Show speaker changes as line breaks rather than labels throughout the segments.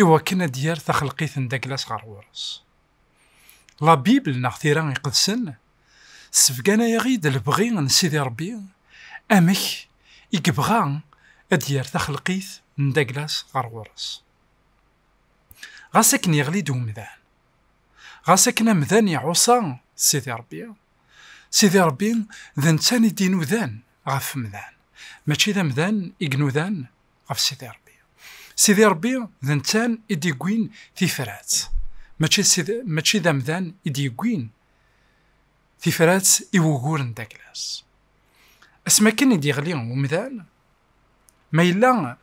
i wakken ad d-yerr taxelqit n Daglas ɣer ɣur-s. La Bible neɣ tira iqedsen ssebganayaɣ-id lebɣi n Sidi Rebbi amek i yebɣa ad d-yerr taxelqit n Daglas ɣer ɣur-s. Ɣas akken yeɣli-d umdan, ɣas akken amdan iɛuṣa Sidi Rebbi, Sidi Rebbi d netta i d-inudan ɣef umdan, mačči d amdan i inudan ɣef Sidi Ṛebbi. Sidi Ṛebbi d nettan i d-yewwin tifrat, mačči d amdan i d-yewwin tifrat i wuguren d aglas. Asmi akken i d-yeɣli umdan, ma yella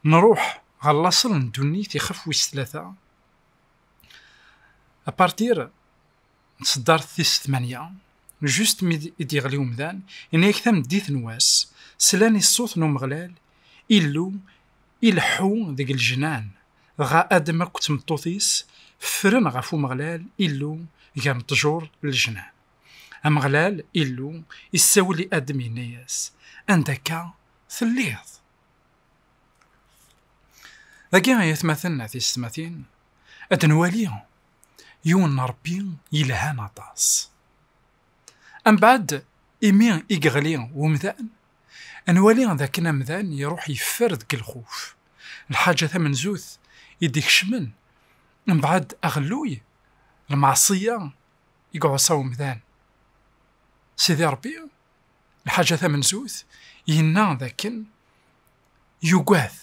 nruḥ ɣer laṣel n ddunit ixef wis tlata, apartir n tseddart tis tmanya, just mi i d-yeɣli umdan, yenna-yak tameddit n wass, slan i ṣṣut n Umeɣlal, Illu, ileḥḥu deg lejnan, dɣa Adem akk d tmeṭṭut-is ffren ɣef Umeɣlal, Illu, gar n ṭṭjur n lejnan. Ameɣlal, Illu, issawel i Adem yenna-yas, Anda akka telliḍ? Dagi ay atmaten at yessetmatin ad nwali yiwen n Ṛebbi yelhan aṭas. Ambaɛd, imi i yeɣli umdan, nwali d akken amdan iruḥ yeffer deg lxuf. Lḥaǧa tamenzut i d-ikecmen mbaɛd aɣelluy, lmeɛṣiyya i iɛuṣa umdan. Sidi Ṛebbi, lḥaǧa tamenzut, yenna d akken yugad,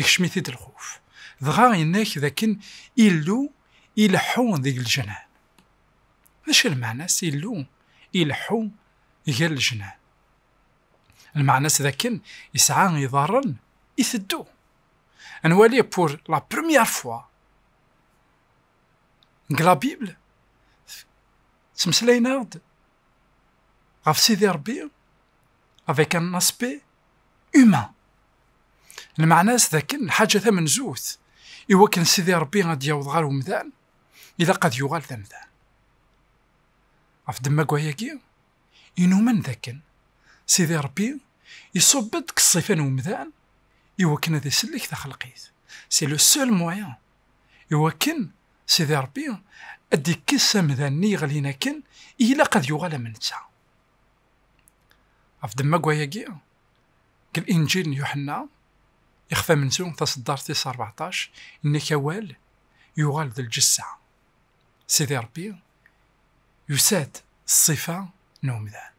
ikcem-it-id lxuf, dɣa yenna-k d akken Illu ileḥḥu deg leǧnan. D acu i lmeɛna-s Illu ileḥḥu gar leǧnan? Lmeɛna-s d akken yesɛa iḍarren iteddu. Ad nwali pour la première fois deg la Bible ttmeslayen-aɣ-d ɣef Sidi Rebbi avec un aspect humain. Lmeɛna-s d akken lḥaǧa tamenzut, i wakken Sidi Ṛebbi ad d-yaweḍ ɣer umdan, ilaq ad yuɣal d amdan. Ɣef ddemma-agi, inumen d akken Sidi Ṛebbi iṣubb-d deg ṣṣifa n umdan i wakken ad isellek taxelqit. C'est le seul moyen i wakken Sidi Ṛebbi ad d-ikkes amdan-nni yeɣlin akken i ilaq ad yuɣal am netta. Af demmag wayagi, deg Linǧil n Yuḥenna, ixef amenzu, taseddart tis rbeɛṭac, yenna-k awal yuɣal d lǧessa. Sidi Ṛebbi yusa-d s ṣṣifa n umdan.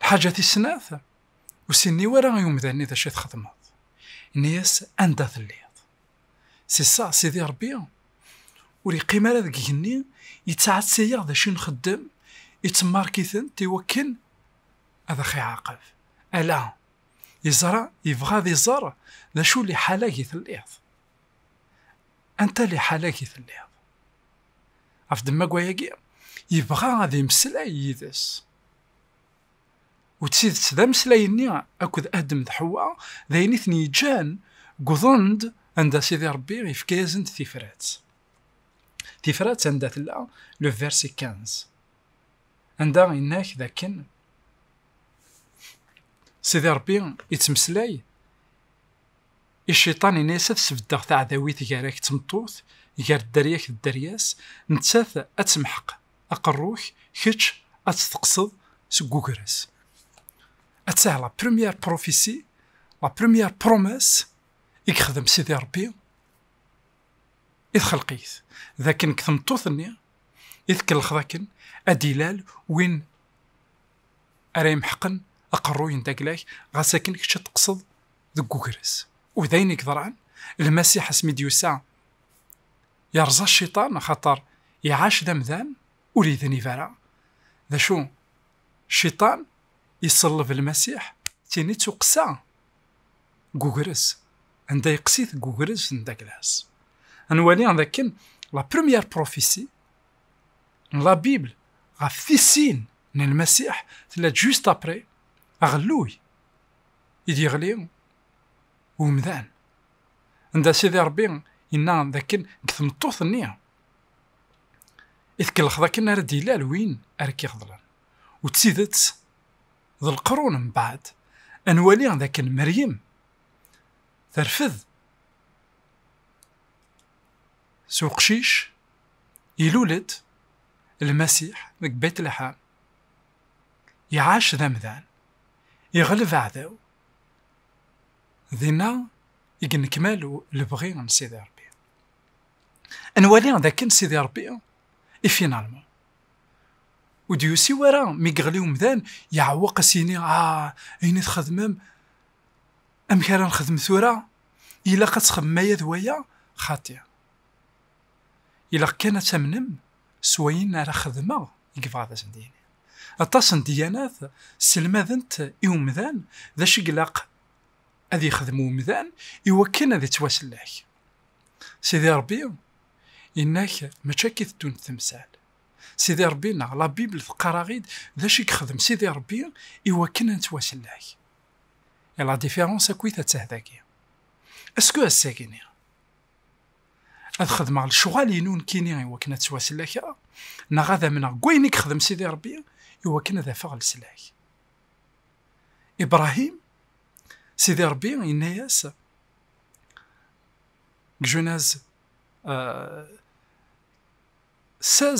Lḥaǧa tis snat, ur s-yenni wara i umdan-nni d acu i txedmeḍ. Yenna-yas anda telliḍ. Si sseɛ Sidi Ṛebbi ur yeqqim ara deg igenni, yettɛeţţa-yaɣ d acu i nxeddem, iţemmaṛek-itent i wakken ad aɣ-iɛaqeb. Ala, yeẓra, yebɣa ad iẓeṛ d acu liḥala-ag i telliḍ. Anta liḥala-ag i telliḍ? Ɣef ddemma n wayagi, yebɣa ad immeslay yid-es. U d tidet, d ameslay-nni akked Adem d Ḥewwa d ayen i ten-yeǧǧan wwḍen-d anda Sidi Ṛebbi yefka-yasen-d tifrat. Tifrat anda tella le verset quinze, anda yenna-ak d akken Sidi Ṛebbi yettmeslay I cciṭan ini-as ad sbeddeɣ taɛdawit gar-ak d tmeṭṭut, gar dderya-k d dderya-s, nettat ad temḥeq aqerru-k, kečč ad t-teqqseḍ seg ugraz. Attah la première prophétie, la première promesse i yexdem Sidi Ṛebbi i txelqit, d akken deg tmeṭṭut-nni i tkellxeḍ akken ad d-ilal win ara imḥeqen aqerruy n dagla-k, ɣas akken kečč ad teqqseḍ deg ugres. U d ayen i yeḍran, Lmasiḥ asmi i d-yusa, yerẓa cciṭan axaṭer iɛac d amdan ur yednib ara. D acu? Cciṭan iṣelleb Lmasiḥ tini d tuqqsa deg ugres, anda yeqqes-it deg ugres n Daglas. Ad nwali dakken la première prophétie n la Bible ɣef tissin n Lmasiḥ tella-d juste après aɣelluy. i d-yeɣli umdan. Anda Sidi Ṛebbi yenna dakken deg tmeṭṭut-nni i tkellex dakken ara d-ilal win ara k-iɣeḍlen. U d tidet, d leqrun mbeɛd, ad nwali dakken Meryem terfed s uqcic ilul-d Lmasiḥ deg Betleḥam. Iɛac d amdan, iɣleb aɛdaw. Dinna i yennekmal lebɣi n Sidi Ṛebbi. Ad nwali d akken Sidi Ṛebbi i finalman ur d-yusi wara mi yeɣli umdan yeɛweq a s-yini ah ayen i txedmem amek ara nexdem tura? Ilaq ad txedmem aya d waya? Xaṭi, Ilaq kan ad tamnem s wayen ara xedmeɣ i yebɣa ad asen-d-yini. Aṭas n ddyanat sselmadent i umdan d acu i ilaq ad yexdem umdan i wakken ad ittwasellek. Sidi Ṛebbi yenna-k mačči akka i teddunt temsal. Sidi Ṛebbi-nneɣ, la Bible, teqqar-aɣ-id d acu i yexdem Sidi Ṛebbi i wakken ad nettwasellek. Et la différence akkit atta dagi. Est-ce que ass-agi-nni ad xedmeɣ lecɣal-inu nekkini iwakken ad ttwasellakeɣ neɣ ad amneɣ deg wayen i yexdem Sidi Rebbi iwakken ad afeɣ leslak. Ibrahim, Sidi Rebbi yenna-yas deg Junaz 16 euh,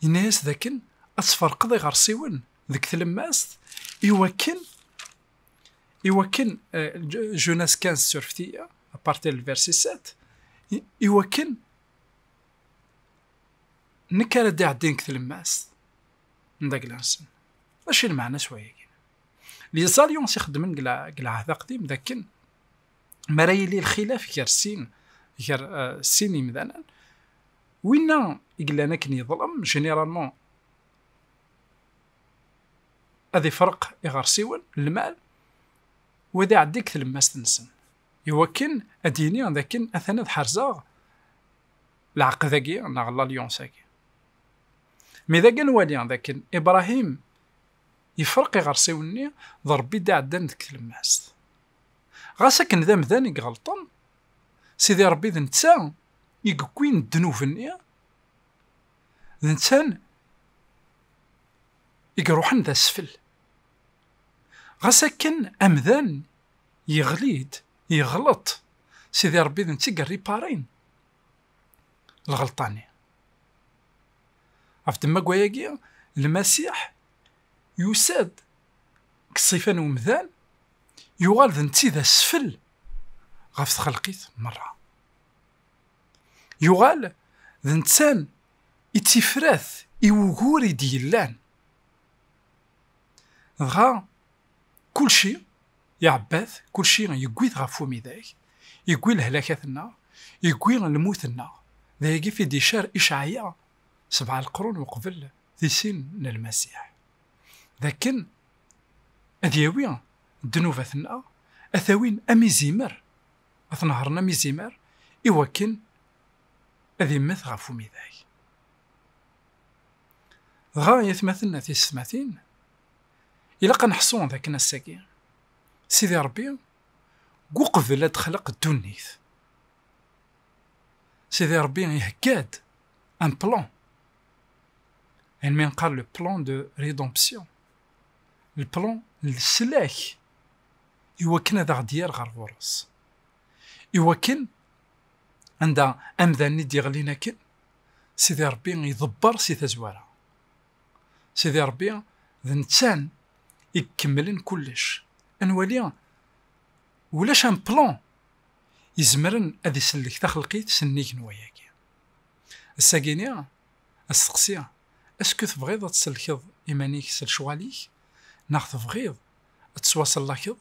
yenna-yas dakken ad tferqeḍ iɣersiwen deg tlemmast iwakken iwakken Jonas 15 surftiya à partir du verset 7 iwakken nekk ara d-iɛeddin deg tlemmast n daglansen mačči lmeɛna s wayagi liẓalyon s ixeddmen deg lɛahd aqdim dakken mi ara yili lxilaf gar sin gar euh, sin imdanen winna i yellan akken yeḍlem généralement ad ifreq iɣersiwen n lmal u ad iɛeddi deg tlemmast-nsen, iwakken ad d-yini d akken atan ad ḥerzeɣ lɛeqd-agi neɣ lalyons-agi. Mi d agi ad nwali d akken Ibrahim ifreq iɣersiwen-nni d Rebbi i d-iɛeddan deg tlemmast. Ɣas akken d amdan i iɣelṭen, Sidi Rebbi d netta i yewwin ddnub-nni, d netta i iruḥen d asfel. Ɣas akken amdan yeɣli-d, yeɣleḍ, Sidi Ṛebbi d netta i yerriparin lɣelṭa-nni. Ɣef ddemma n wayagi, Lmasiḥ yusa-d deg ṣṣifa n umdan, yuɣal d netta i d asfel ɣef txelqit merra. Yuɣal d nettan i d tifrat i wugur i d-yellan. Dɣa kulci iɛebba-t, kulci yewwi-t ɣef umidag, yewwi lehlakat-nneɣ, yewwi lmut-nneɣ. D ayagi i d-icar Icɛaya sebɛa leqrun uqbel tisin n Lmasiḥ, d akken ad yawi ddnubat-nneɣ, ad t-awin am izimer ad t-nehṛen am izimer i wakken ad immet ɣef umidag. Dɣa ay atmaten a tisetmatin, ilaq ad neḥṣu d akken ass-agi, Sidi Ṛebbi deg uqbel ad d-xleq ddunit, Sidi Ṛebbi ihegga-d un plan, ayen mi nqal le plan de rédemption, le plan n leslak i wakken ad aɣ-d-yerr ɣer ɣur-s. I wakken, anda amdan i d-yeɣlin akken, Sidi Ṛebbi iḍebber si tazwara. Sidi Ṛebbi d nettan i ikemmlen kullec. Ad nwali ulac un plan izemren ad isellek taxelqit sennig n wayagi. Ass-agi-ni, Asteqsi, Esku tebɣiḍ ad tsellkeḍ iman-ik s lecɣal-ik, neɣ tebɣiḍ ad tettwasellakeḍ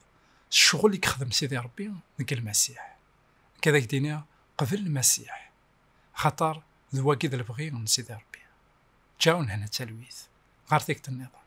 s ccɣel i yexdem Sidi Ṛebbi deg Lmasiḥ? Nekk ad ak-d-iniɣ, qbel Lmasiḥ, axaṭer d wagi i d lebɣi n Sidi Ṛebbi. Ǧaun hna talwit ɣer tikkelt nniḍen.